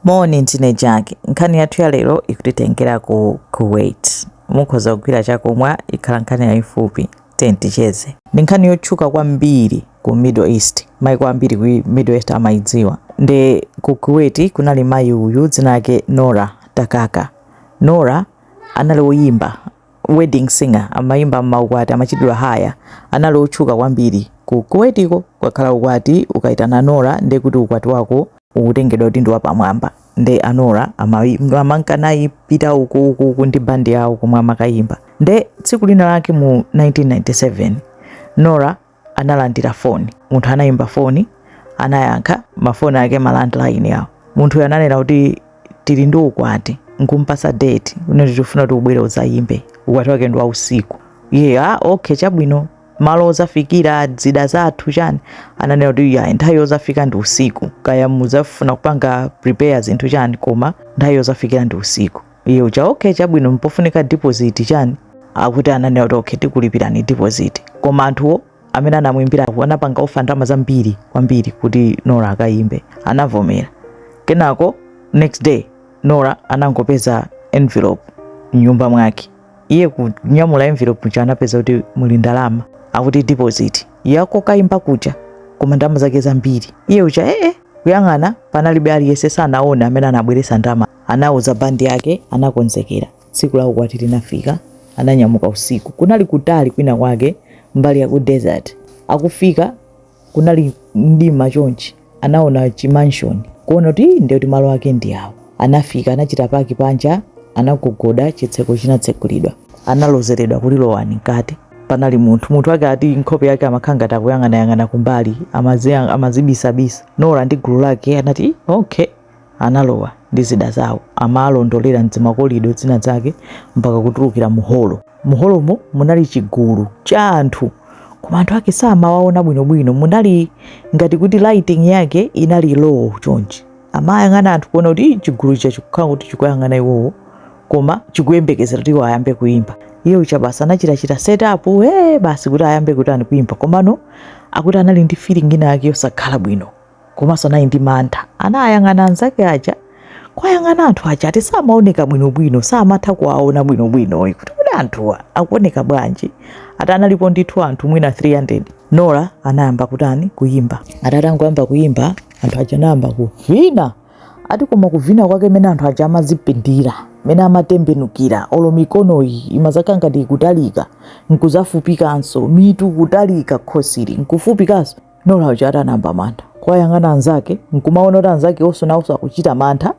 Moni, ndine Jack. Nkhani yathu ya lero ikutitengera ku Kuwait. Mukhoza kugwira chakumwa, ikhala nkhani yayifupi. Tiye ticheze. Ndi nkhani yotchuka kwambiri ku Middle East. Maiko ambiri ku Middle East amayidziwa. Nde ku Kuwait kunali mayi uyu dzina lake Nora Takaka. Nora anali woyimba wedding singer amayimba mmaukwati amachitidwa hire anali otchuka kwambiri ku kuwaitiko kukakhala ukwati ukaitana nora nde kuti ukwati wako ukutengedwa kuti ndi wapamwamba nde a Nora amayi- amanka nayi pita uku uku uku ndi bandi yawo komwe amakayimba nde tsiku lina lake mu 1997 nora analandira foni. Munthu anaimba foni, anayankha, mafoni ake ma landline awo. Munthuyo ananena kuti tili ndi ukwati, nkumpasa date, unati tikufuna kuti ubwere udzayimbe, ukwati wake ndi wa usiku. Iye ah, okay chabwino, malo ozafikira zida zathu chani, ananena kuti ya nthawi yozafika ndi usiku, kaya mudzafuna kupanga prepare zinthu chani, koma nthawi yozafikira ndi usiku. iye uja okay chabwino mpofunika deposit chani akuti ananena kuti okay tikulipirani deposit koma anthuwo amene anamuimbirawo anapanga ofa ndalama zambiri kwambiri kuti nora akayimbe anavomera kenako next day nora anangopeza envelope mnyumba mwake iye kunyamula envelope muja anapeza kuti muli ndalama akuti deposit yokayimba kuja koma ndalama zake zambiri iye uja ee kuyang'ana panalibe aliyense sanaone amene anabweresa ndalama Anauza bandi yake, anakonzekera. Tsiku la ukwati linafika, ananyamuka usiku. Kunali kutali kwina kwake mbali ya ku desert. Akufika kunali mdima chonchi, anaona chi mansion kuona kuti ii, ndiye kuti malo ake ndi awo. Anafika, anachita paki panja, anagogoda, chitseko chinatsekulidwa. Analozeredwa kuti lowani mkati. Panali munthu, munthu wake ati nkhope yake amakhala ngati akuyang'anayang'ana kumbali, amazi- amazibisabisa. Nora ndi gulu lake anati, "Ih, okay, analowa ndi zida zawo amaalondolera m'dzimakolido zinazake mpaka kutulukira mu holo. Mu holomo munali chigulu cha anthu koma anthu ake samawaona bwinobwino, munali ngati kuti lighting yake inali low chonchi. Amayang'ana anthu kuona kuti "Ih, chigulu chija chikukhala kuti chikuyang'ana iwowo koma chikuyembekezera kuti iwo ayambe kuimba. Iye uja basi anachitachita set up hee basi kuti ayambe kutani kuimba komano akuti anali ndi feeling ina yake yosakhala bwino. komanso anali ndi mantha anayang'ana anzake aja kwayang'ana anthu aja ati samaoneka bwinobwino samatha kuwaona bwinobwinoyi kuti kodi anthuwa akuoneka bwanji ati analipo ndithu anthu mwina 300 nora anayamba kutani kuyimba ati atangoyamba kuyimba anthu aja anayamba kuvina ati koma kuvina kwake mene anthu aja amazipindira mene amatembenukira olo mikonoyi imazakhala ngati ikutalika nkuzafupikanso mitu kutalika khosili nkufupikanso Nora uja atanamba mantha kuwayang'ana anzake nkumaona kuti anzake onse nawonso akuchita mantha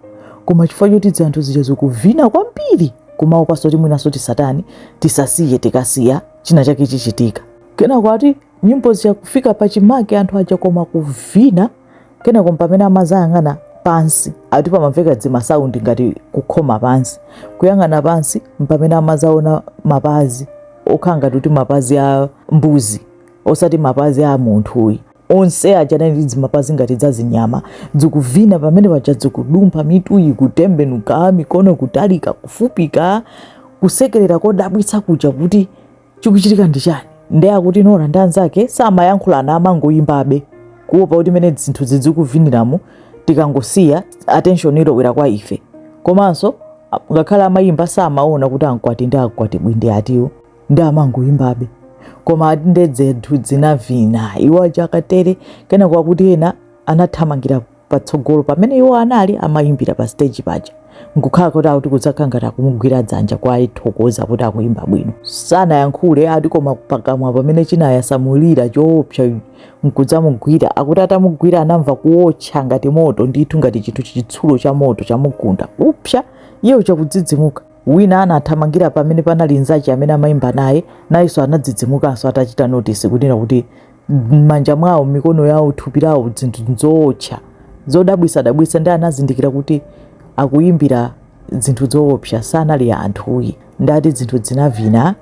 koma chifukwa choti dzanthu zija zikuvina kwambiri kumaopanso kuti mwinanso tisatani tisasiye tikasiya china chake chichitika kenako ati nyimbo zija kufika pa chimake anthu aja koma kuvina kenako mpamene amazayang'ana pansi ati pamamveka dzimasaundi ngati kukhoma pansi kuyang'ana pansi mpamene amazaona mapazi okhala ngati kuti mapazi a mbuzi osati mapazi a munthuyi onse aja anali ndi dzimapazi ngati dza zinyama dzikuvina pamene paja dzikudumpha mitu ikutembenuka mikono kutalika kufupika kusekerera kodabwitsa kuja kuti chikuchitika ndi chani nde akuti nora ndi anzake samayankhulana amangoyimbabe kuopa kuti mene zinthu zikuviniramo tikangosiya attention ilowera kwa ife komanso a- ngakhale amayimba samaona kuti ankwati ndi akwatibwi ndi atiwo nde amangoyimbabe koma ati nde dzinthu dzinavina iwo achakatere kenako akuti ena anathamangira patsogolo pamene iwo anali amayimbira pa stage paja nkukhala kuti akuti kudzakhala ngati akumugwira dzanja ngati akuthokoza kuti akuyimba bwino sanayankhule ati koma pakamwa pamene chinayasamulira choopsa nkudzamugwira akuti atamugwira anamva kuotcha ngati moto ndithu ngati chinthu chitsulo cha moto chamugunda upsa iye uchakudzidzimuka Wina anathamangira pamene panali nzache amene amaimba naye, nayenso anadzidzimukanso atachita notisi kunena kuti m'manja mwawo, m'mikono yawo, thupi lawo dzinthu dzootcha zodabwisadabwisa nde anazindikira kuti akuimbira dzinthu dzoopsa sanali anthuyi nde ati dzinthu dzinavina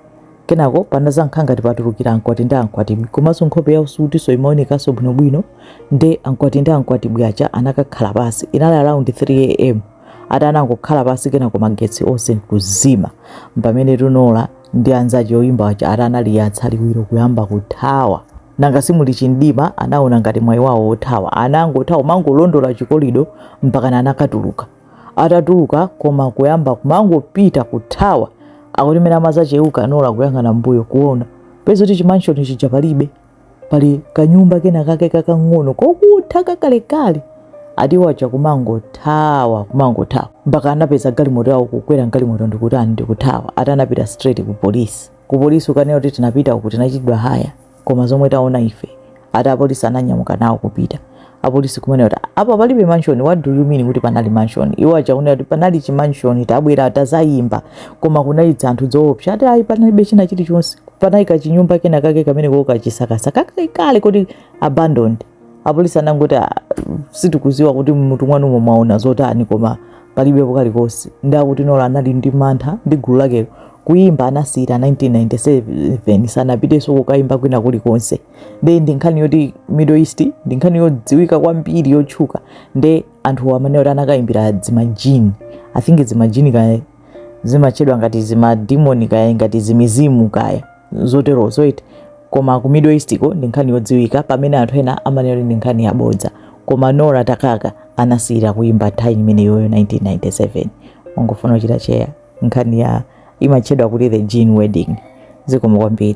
kenako panazakhala ngati patulukira ankwati ndi ankwatibwi komanso nkhope yawo sikutinso imaonekanso bwinobwino nde ankwati ndi ankwatibwi aja anakakhala pasi inali around 3 am ati anangokhala pansi kenako magetsi onse nkuzima mpamene ati Nora ndi anzache oyimba waja ati analiyatsa liwiro kuyamba kuthawa nanga si muli chimdima anaona ngati mwayi wawo othawa anangothawa kumangolondola chikolido mpakana anakatuluka atatuluka koma kuyamba kumangopita kuthawa akuti mene amazacheuka Nora kuyang'ana mbuyo kuona peza kuti chimanshoni chija palibe pali kanyumba kena kake kakang'ono kokutha kakalekale ati iwo acha kumangothawa kumangothawa mpaka anapeza galimoto yawo kukwera mgalimoto ndikutani ndikuthawa ati anapita straight ku polisi ku polisi kukanena kuti tinapita uku tinachitidwa haya koma zomwe taona ife ati apolisi ananyamuka nawo kupita apolisi kumanena kuti apa palibe mansion what do you mean kuti panali mansion iwo achakunena kuti panali chi mansion tabwera tazayimba koma kunali dzanthu dzoopsa ati ayi panalibe china chilichonse panali kachinyumba kena kake kamene kokachisakasaka kakale kuti abandoned apolisi anangoti ah, sitikuziwa kuti mutu mwanumo mwaona zotani koma palibe pena paliponse nde akuti Nora anali ndi mantha ndi gulu lakelo kuyimba anasiyira 1997 sanapiteso kukayimba kwina kuli konse nde ndi nkhani yoti middle east ndi nkhani yodziwika kwambiri yotchuka nde anthu amene kuti anakayimbira dzimajini i think dzimajini kaya zimatchedwa ngati zimadimoni kaya ngati zimizimu kaye zotero zoti koma ku middle east ko ndi nkhani yodziwika pamene anthu ena amanena kuti ndi nkhani yabodza koma nora takaka anasiyira kuyimba nthawi imeneyoyo 1997 ofuna kuchita search nkhaniyi imatchedwa kuti the jinn wedding zikomo kwambiri